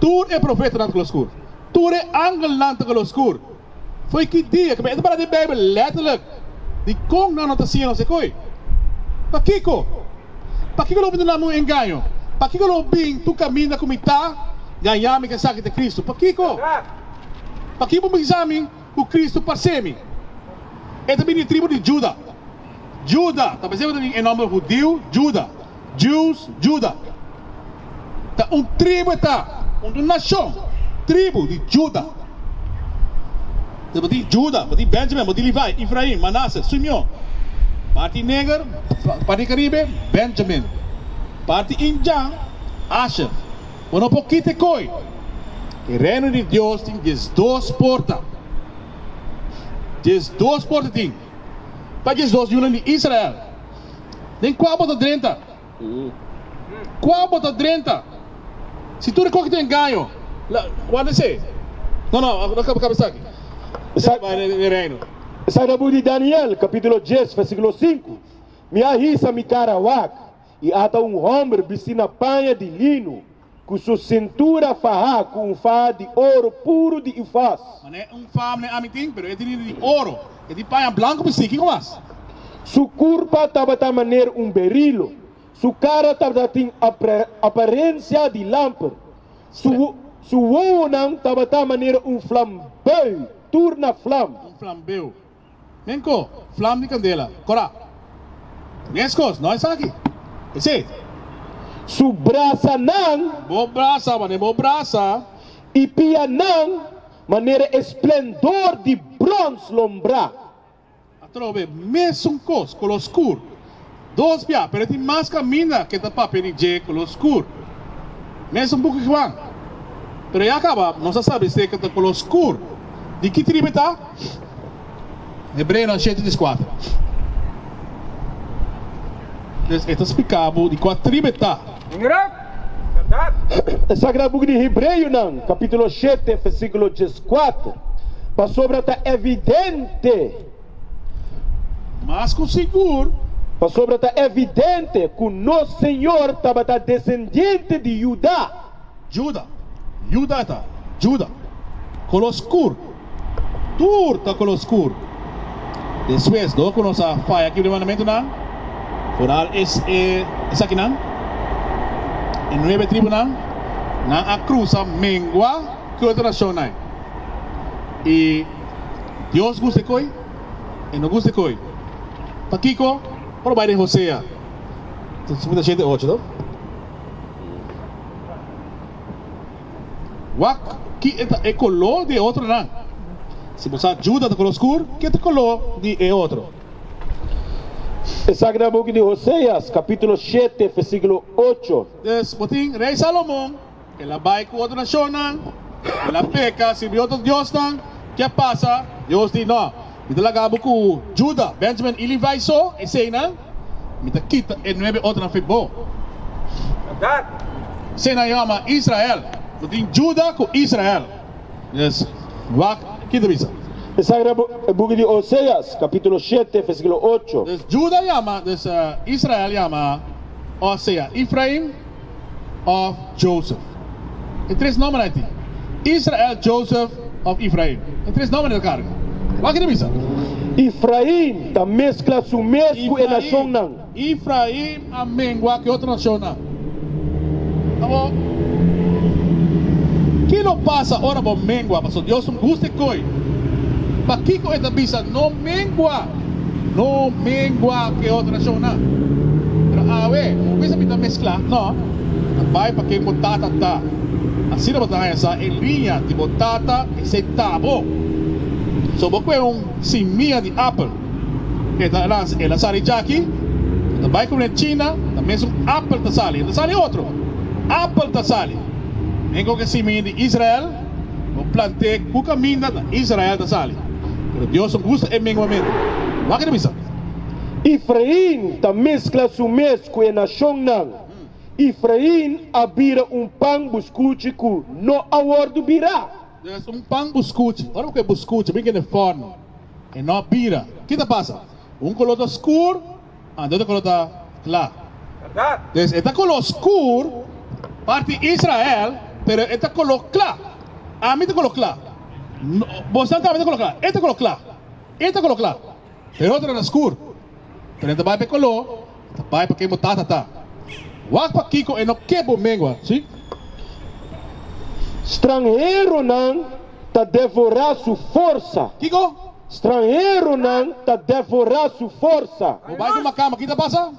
Tur e profetanan ta kolo skur. Tur e angelnan ta kolo skur. Foi ki dia ku mester pará di Beibel lèterlik di kon nan no ta siña nos e koi? Pakiko? Pakiko lo binti na mi un engaño? Pakiko lo bin tur kaminda ku mi ta, gaña mi ke sa ki ta Kristu? Pakiko? Pakiko bo bisa mi? Ku Kristu pa semi. E ta bini di tribu di Juda. Juda, ta p'esei ku ta bin e nòmber hudiu Juda, Jews, Juda. Ta un tribu e ta, un nashon, tribu di Juda. Esei bo tin Juda, bo tin Bènjamin, bo tin Livae, Ifrain, Manase, Sumion. Parti neger, parti karibe, Bènjamin. Parti injan, Asher. Bo no por kita e koi. E Reno di Dios tin diesdos porta. Diesdos porta tin, pa diesdos yunan di Israel. Den kua bo ta drenta? Kua bo ta drenta? Si tur e kos ki ta engaño, la wanta esei. No, no, no kaba kaba esaki. Esaki bai den e Reno. Sa na bo di Daniel, kapitulo dies, versikulo sinku, Mi a hisa mi kara wak. I ata un hòmber bisti na paña di linu, ku su sintura fahá ku un faha di oru puru di Ufaz. Mane e un faha mane ami tin, pero e tin di oru, e tin paña blanku bisti. Kiko mas? Su kurpa tabata maner un berilo, su kara tabata tin aparensia di lamper, su wowonan tabata maner un flambeu, tur na flam. Un flambeu. Men ko flam di kandela kora. Meskos, no esaki. Esei. Su brasanan. Bo brasa manera bo brasa. I pianan manera e splendor di brons lombrá. Atrobe, mesun kos, kolor skur. Dos bia, pero e tin mas kaminda ku e ta papia di dje kolor skur. Mes un buki Juan. Pero ya kaba nos a sabi seka ta kolor skur. Di ki tribu e ta? Hebreonan shete dis kuater. Pues e ta spliká bo di kua tribu e ta. Ingerat? Bèrdat? E Sagrado Buki di Hebreonan, kapítulo shete, vèrsíkulo dieskuater, Pasobra ta evidente. Mas ku sigur. Pasobra ta evidente ku nos Señor tabata desendiente di Judá. Juda. Juda ta. Juda. Koló skur. Tur ta koló skur. Despues, dor ku nos a faya kibra e mandamentunan, por al es e esakinan, e nuebe tribunan, nan a krusa mengua ku e otro nashonnan i. Dios gusta e koe? E no gusta e koe? Pakiko por a bai den Hosea? Tin su punta shete e ocho, no? Wak ki e ta e koló di e otronan. Si bo sa Juda ta koló skur, ki e ta koló di e otro? E Sagrá Buki di Hoseas, kapítulo shete, vèrsíkulo ocho. Pues, bo tin Rei Salomon. El a bai ku otro nashonnan, el a peka, sirbi otro diosnan. Ke pasa? Dios di, No, mi ta laga bo ku Juda, Benjamin i Livaí so, eseinan mi ta kita e nuebe otronan for bo. Esei nan yoma Israel. Bo tin Juda ku Israel. Yes, wak, kita bisa. Esaki ta e buki di Oseas, kapitulo shete, versikulo ocho. Juda yama, Israel yama, osea Ifraim. òf Jozef. E tres nòmber ai tin, Israel, Jozef òf Ifraim. E tres nòmber ta karga. Wak i ta bisa. Ifraim ta meskla su mes ku e nashonnan. Ifraim a mengua ku e otro nashonnan. Abo, ke lo pasa ora bo mengua? Pasobra Dios no gusta e koi. Pakiko e ta bisa, No mengua? No mingua ku e otro nashonnan. Pero awe, bo bisa mi ta mesklá? No, ta bai pa ken bo tata ta. Asina bo ta haña sa e liña di bo tata esei ta bo. So bo kue un simia di apel e ta lans el a sali djaki, bo ta bai kuné China, ta mesun apel ta sali, no ta sali otro, apel ta sali. Mingua ku e simia di Israel. Bo planté ku kaminda na Israel ta sali, pero Dios no gusta e menguamentu. Wak e ta bisa. Efrain ta meskla su mes ku e nashonnan. Efrain a bira un pan buskuchi ku no a wòrdu birá. Yes, un pan buskuchi. Ora bo ke buskuchi, bo tin ke ne fòn. E no a bira. Ki ta pasa? Un koló ta skur. Anto ta kolor ta kla. Des e ta kolor skur pa di Israel, pero e ta kolor kla. Ami ta kolor kla. Bosnan tambe ta kolor kla. E ta kolor kla. E ta kolor kla. Perotra ta skur. Pero e ta bai pa e kolor, e ta bai pa ke bo tata ta. Wak pa kiko e no ke bo mengua. Si. Stranheronan. ta devorá su forsa. Kiko? Stranheronan ta devorá su forsa. Bo bai duma kama, ki ta pasa?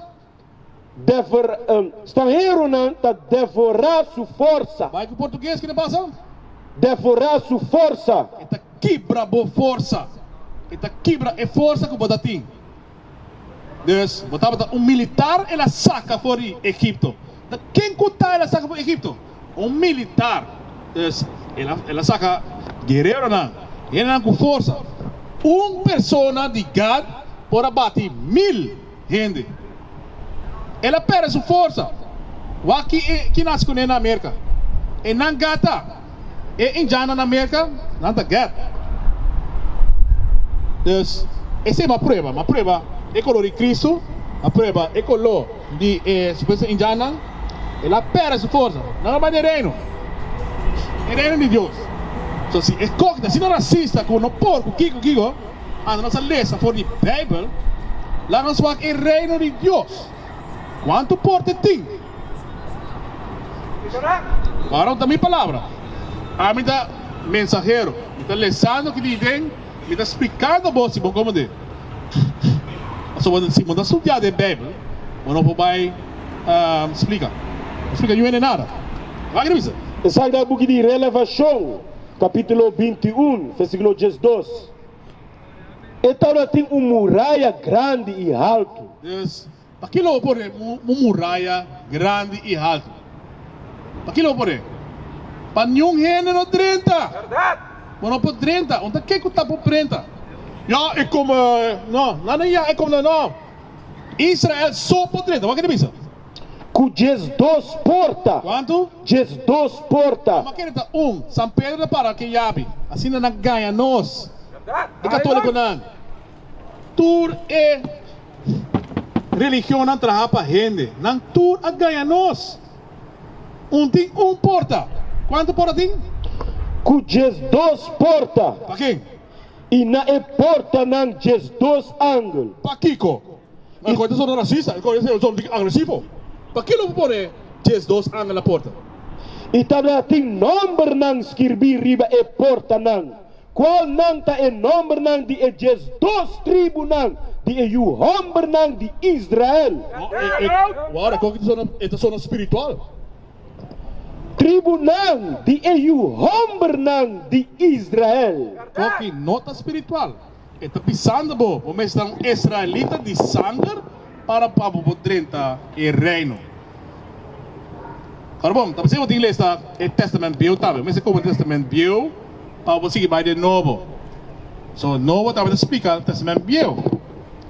Dever, um, stranheronan ta devorá su forsa. Bai ku portuges, ki ta pasa? Devorá su forsa. E ta kibra bo forsa. E ta kibra e forsa ku bo ta tin. Dus, bo tabata un militar, el a saka for di Egipto. Ta ken ku ta el a saka for di Egipto? Un militar. Dus, el a saka guereronan, hendenan ku forsa. Un persona di Gad por a bati mil hende. El a pèrdè su forsa. Wak ki e kina a hasi ku nan den Amerika. E nan gata. E Indianan na Merka, nan ta gèt. Dus, esei bo a prueba. Bo a prueba e koló di Kristu, bo a prueba e koló di e supuesto Indiannan, el a pèrdè su forsa. Nan a bai den Reino, den Reino di Dios. So, si e kos, asina rasista ku no por ku kiko kiko, anda nos a lesa for di Beibel, laga nos wak e Reino di Dios. Kuantu porte tin? Aron ta mi palabra. Ami ta mensahero. Mi ta lesando ki di den, mi ta splikando bo si bo komende. Pasobra si bo no ta studiá den Beibel, bo no por bai splika. No splika yuen den nada. Wak revisa. Esaki ta e buki di Relevashon, kapítulo binti un, versíkulo dies dos. E tabla tin un muraya grandi i haltu. Pakila bo por e muraya grandi i haltu? Pakila bo por e? Pa niun hende no drenta. Bo no por drenta. Unta ke ku ta por drenta? Ya e kome no. Na na ya e kome na no. Israel so por drenta. Wak e ta bisa? Ku djes dos porta. Kuantu? Djes dos porta. Bo meken e ta un. San Pedro ta para ke yabi. Asina nan gaña nos, e katolikonan. Tur e Religionnan traha pa hende. Nan tur a gaña nos. Un tin un porta. Kuantu porta tin? Ku djes dos porta. Pakin? I na e portanan djes dos angel. Pakiko? Nan koe ta sona rasista. Nan koe ta sona agresivo. Pakiko lo por pone djes dos angel na porta? I tabata tin nòmbernan skirbí riba e portanan. Cualnan ta e nombernan di e dies dos tribunan di e yu hombernan di Israel? Wow, e kok e ta sona spiritual! Tribunan di e yu hombernan di Israel. Koki no ta spiritual? E ta bisando bo, bo mester ta un Israelita di sanger? Para pa bo por drenta e Reino. Ora bon, ta p'esei bo tin lesa e Tèstamènt Bieu tambe. Bo mester komo di Tèstamènt Bieu pa bo sigui bai den Nobo. So, Nobo tambe ta splika Tèstamènt Bieu.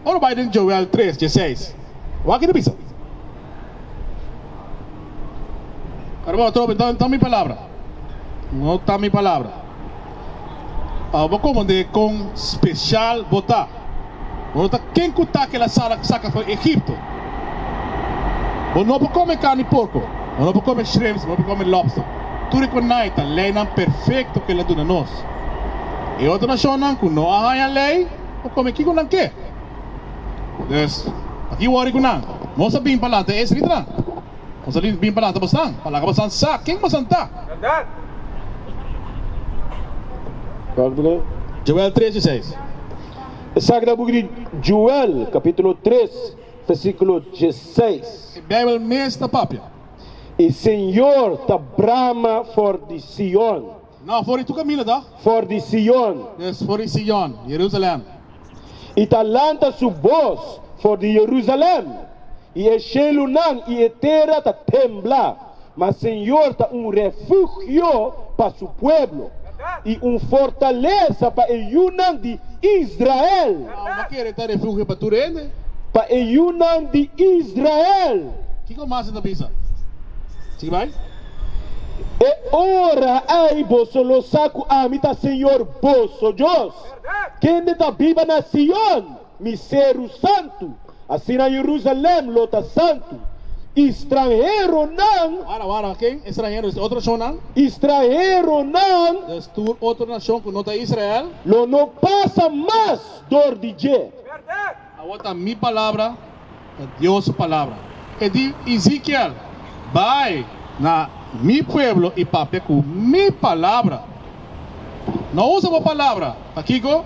Ora bo bai den Joel tres, dieseis, wak e ta bisa. Ora bon, atrobe, no ta mi palabra. No ta mi palabra. a bo komand'é kon speshal bo ta. Bo no ta ken ku ta kila sala ku saka for Egipto. Bo no por kome karni porko, bo no por kome shrimps, bo no por kome lobster. Tur e ku nai ta leinan perfekto ku el a duna nos. E otro nashonnan ku no a haña lei por kome kiko nan ke. Dus, pa ki wòri ku nan? Nos a bin pa lanta e esritnan. Bo sa bin pa lata bosan. Pa laga bosan sa ken bosan ta. Verdad. Joel tres y seis. Esaki ta buki di Joel capitulo tres versiculo dieseis. E Bijbel mes ta papia. E Señor ta brama for di Sion. No, for di tur camino ta. For di Sion. Yes, for di Sion, Jerusalem. I ta lanta su bos for di Jerusalem, i e shelunan i e tera ta tembla. Ma Señor ta un refugio pa su pueblo, i un fortalesa pa e yunan di Israel. Awe ta kere ta refugio pa tur hende. Pa e yunan di Israel. Kiko mas e ta bisa? Sigui bai. E ora ei boso lo sa ku ami ta Señor boso Dios. Kende ta biba na Sion, mi seru santu, asina Jerusalem lo ta santu. I stranheronan. Wara, wara, ken e stranhero? Esei otro nashonnan. I stranheronan. Des tur otro nashon ku no ta Israel. Lo no pasa mas dor di dje. Awor ta mi palabra, ta Dios su palabra. E di Ezekiel, Bai na mi pueblo i papia ku mi palabra. No usa bo palabra. Pakiko?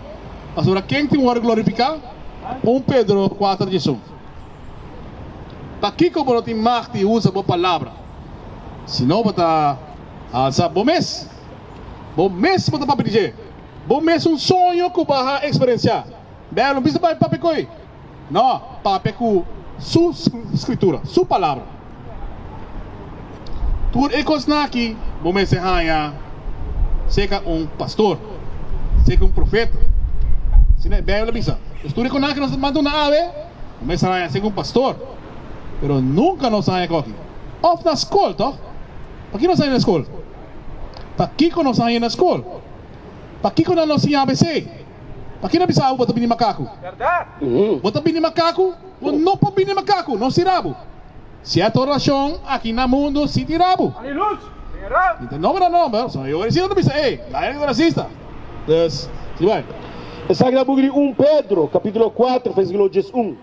Pasobra ken tin wòrdu glorifiká? Un Pedro kuater diesun. Pakiko bo no tin mag di usa bo palabra? Si no bo ta alsa bo mes. Bo mes bo ta papia di dje. Bo mes un soño ku bo a eksperensiá. Bel, un bisa bai papia ku e? No, papia ku Su Skritura, Su Palabra. Tur e kosnan aki bo mester haña seka un pastor, seka un profeta. Asina e Beibel a bisa. Pues tur e kosnan aki nos ta duna awe, bo mester haña seka un pastor. Pero nunka nos a haña koki. Òf na skol, tòg? Pakiko nos a haña na skol? Pakiko nos a haña na skol? Pakiko nan lo siña ABC? Pa kina bisa abo bo ta bini makaku? Bo ta bini makaku? Bo no por bini makaku, no si rabu. Sierto rashon aki na mundu si tin rabu. Mi ta nombra nomber, so e oirecido ta bisa, Ey, laga di rasista. Dus, si bai. Esaki ta buki di un Pedro, capitulo kuater, versiklo diesun.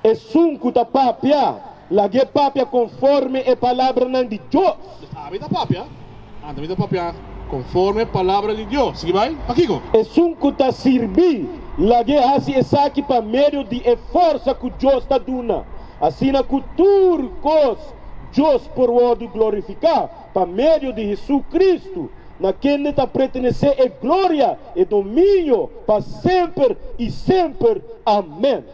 Esun ku ta papia, lag'é papia konforme e palabranan di Dios. Mi abi ta papia, anto mi ta papia konforme palabra di Dios. Sigui bai, pakiko? Esun ku ta sirbi, lag'é hasi esaki pa medio di e forsa ku Dios ta duna, asina ku tur kos Dios por wòrdu glorifiká pa medio di Hesukristu. Na kende ta pretenesé e gloria, e dominio, pa semper i semper. Amèn.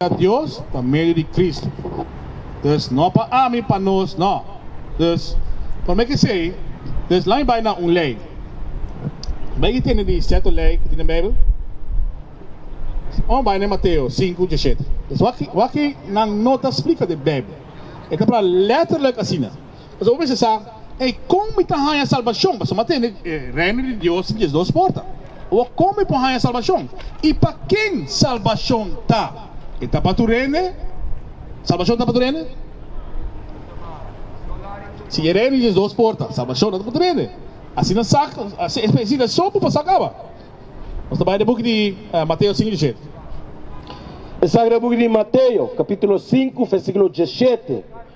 a Dios pa medio di Cristo, dus no pa ami, pa nos no. Dus, por me k'esei, dus la'i bai na un lei. Bai i tende di seto lei ku tin den Beibel? Ora bo bai na Mateo sinku diashete, dus wak wak e nan no ta splika den Beibel. E ta pra letterlijk asina. Bo mester sa, Ey, kon mi ta haña salbashon? Pasobra mi a tende ku e Reino di Dios tin diesdos porta. O, kon mi por haña salbashon? I pa ken salbashon ta? E ta pa tur hende? Salbashon ta pa tur hende? Si e Reino tin diesdos porta, salbashon no ta pa tur hende. Asina sa, si e hasido aso, bo por sa kaba. Nos ta bai den buki di Mateo sinku dieshet. E Sagrado Buki di Mateo, kapitulo sinku, vèrsikulo dieshet.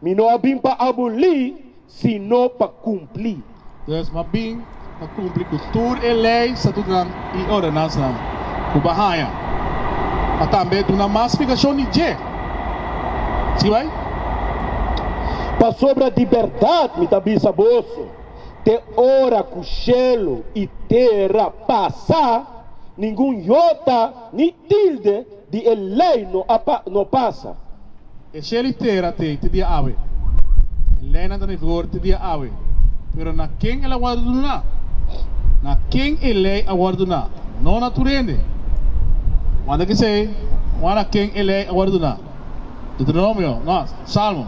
Mi no a bin pa abolí, sino pa kumpli. Pues, mi a bin pa kumpli ku tur e lei, estatutonan i ordenansanan ku bo a haña, pa tambe duna mas splikashon di dje. Sigui bai. Pasobra di bèrdat mi ta bisa boso, te ora ku shelu i tera pasa, ningun yota ni tilde Di e ley no a no pasa. E shel i tera t'ei te dia awe. E leynan ta na e vigor te dia awe. Pero na ken el a wòrdu duna? Na ken e ley a wòrdu duna? No na tur hende. Wanda kisei, wak na ken e ley a wòrdu duna? Deuteronomio, no, Salmo,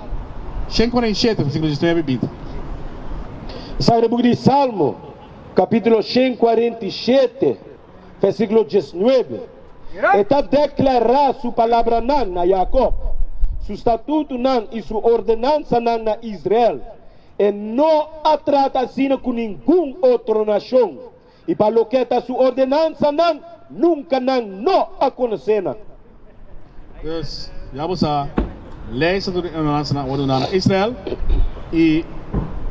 shen kuarenta i shete, versíkulo diesnueve i binti. Sa e buki di Salmo, kapítulo shen kuarenta i shete. versíkulo diesnuebe, E ta deklará su palabranan na Yakòb, su statutunan i su ordenansanan na Israel. E no a trata asina ku ningun otro nashon, i pa loke ta su ordenansanan nunka nan no a konosé nan. Dus, ya bo sa, lei sa tur di ordenansanan a wòrdu dá na Israel, i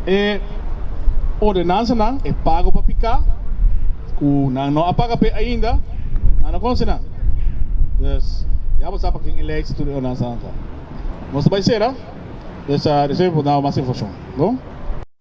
e ordenansanan, e pago pa piká, ku nan no a paga p'e ainda, nan no konosé nan. Dus, ya bo sa pakin e lei sa tur di ordenansanan ta. Nos ta bai sera, dus, despues mi por dá bo mas informashon. Bon.